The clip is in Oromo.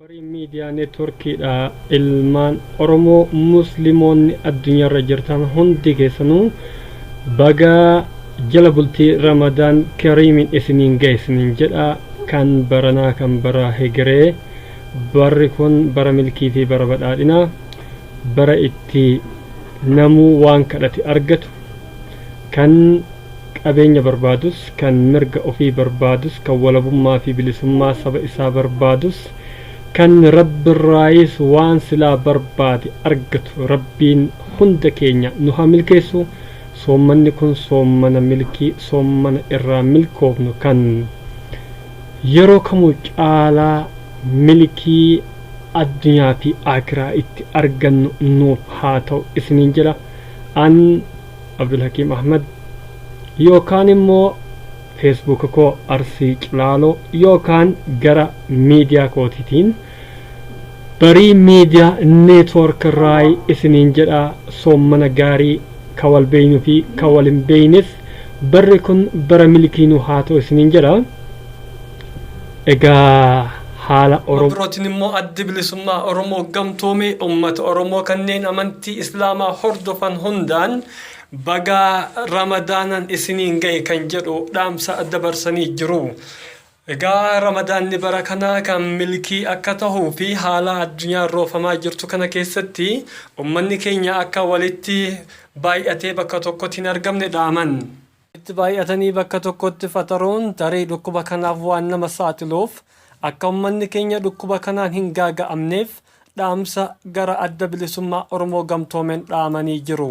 Horiin Miidiyaa Neetworkiidha. Ilmaan Oromoo Muslimoonni addunyaarra jirtan hundi keessanuu baga jala bultii Ramadaan Kariimiin isiniin ga'e isiniin jedha. Kan baranaa kan bara hegeree barri kun bara milkii fi bara badhaadhina bara itti namuu waan kadhate argatu kan qabeenya barbaadus, kan mirga ofii barbaadus, kan walabummaa fi bilisummaa saba isaa barbaadus, kan Rabbirraayis waan silaa barbaade argatu Rabbiin hunda keenya nu haa milkeessu, soommanni kun soommana milkii, soommana irraa milkoofnu kan yeroo kamuu caalaa milkii addunyaa fi aakiraa itti argannu nuuf haa ta'u isiniin jedha. An. Abdulhakiim Ahmad yookaan immoo Facebook koo Arsii Cilaaloo yookaan gara miidiyaa kootiitiin barii miidiyaa neetwoork irraayi isiniin jedha soommana gaarii ka wal beeynu fi ka wal hin beeynes barri kun bara milkii nu haa ta'u isiniin jedha. Egaa haala Gama Oromoo. birootiin immoo Addi Bilisummaa Oromoo gamtoome ummata Oromoo kanneen amantii Islaamaa hordofan hundaan baga Ramadaanan isiniin gahe kan jedhu dhaamsa dabarsanii jiru. Egaa Ramadaanni bara kanaa kan milkii akka tahuu fi haala addunyaan roofamaa jirtu kana keessatti ummanni keenya akka walitti baay'atee bakka tokkotti hin argamne dhaaman. Itti baay'atanii bakka tokkotti faxaruun tarii dhukkuba kanaaf waan nama saaxiluuf akka ummanni keenya dhukkuba kanaan hin gaaga'amneef dhaamsa gara Adda Bilisummaa Oromoo Gamtoomeen dhaamanii jiru.